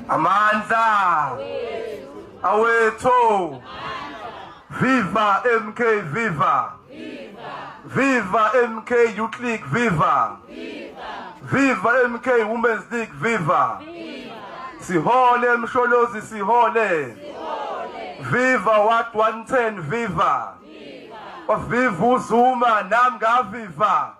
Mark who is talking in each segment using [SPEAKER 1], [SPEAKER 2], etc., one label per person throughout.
[SPEAKER 1] Amandla awethu Viva MK Viva Viva MK You Click Viva Viva MK Women's League Viva Sihole Msholozi Sihole Viva What 110 Viva Viva Viva Zuma nam ngaviva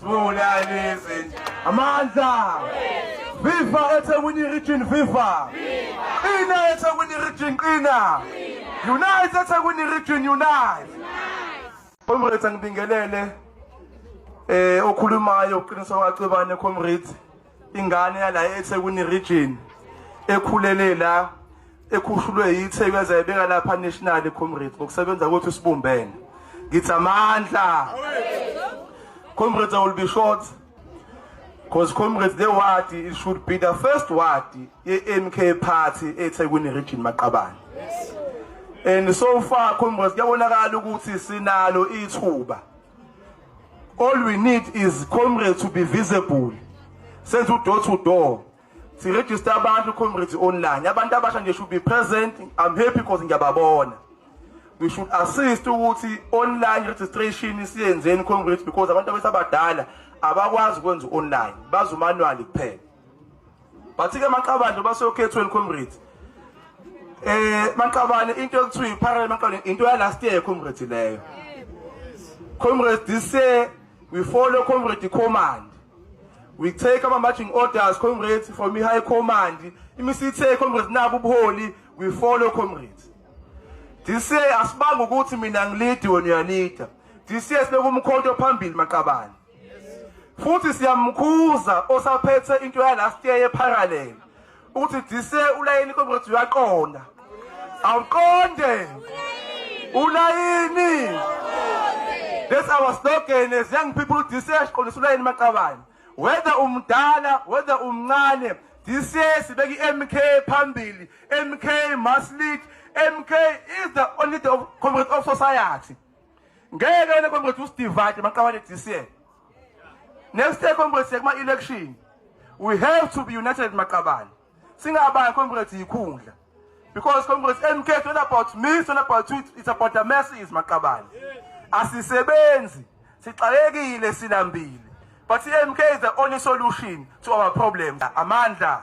[SPEAKER 1] Sibulalizi amandla Viva eThekwini region viva Qina eThekwini region qina Unite eThekwini region unite Comrades angibingelele eh okhulumayo uqiniso kaCebane comrades ingane yala eThekwini region ekhulele la ekhushulwe yiTheku yaze yabeka lapha national comrades ngokusebenza kwethu sibumbene ngithi amandla comrades will be short because comrades the ward it should be the first ward ye-MK party eThekwini region maqabane yes. and so far comrades kuyabonakala ukuthi sinalo ithuba All we need is comrades to be visible. Senze udoor to door. Si register abantu comrades online. Abantu abasha nje should be present. I'm happy because ngiyababona. We should assist ukuthi online registration isiyenzeni comrades because abantu abesabadala abakwazi ukwenza online. Bazi manually kuphela. bathi ke maqabane basokhethweni comrade eh maqabane into ekuthiwa iparallel maqabane into ya last year comrade leyo comrade this year we follow comrade command we take our marching orders comrade from the high command imisithe comrade nabu ubuholi we follow comrade this year asibanga ukuthi mina ngilidi wena uyalida this year sibeka umkhonto phambili maqabane futhi siyamkhuza osaphethe into yalast year yeparallel ukuthi dise ulayini comrade uyaqonda awuqonde ulayini that's our slogan as young people dise siqondisa ulayini maqabane whether umdala whether umncane dise sibeka i-mk phambili mk must lead mk is the only the comrade of society ngeke le congress usidivide maqabane DCA next year congress yekuma election we have to be united maqabane singabani congress yikhundla because congress MK it's not about me it's not about you it's about the masses maqabane asisebenzi sixakekile silambile but MK is the only solution to our problems amandla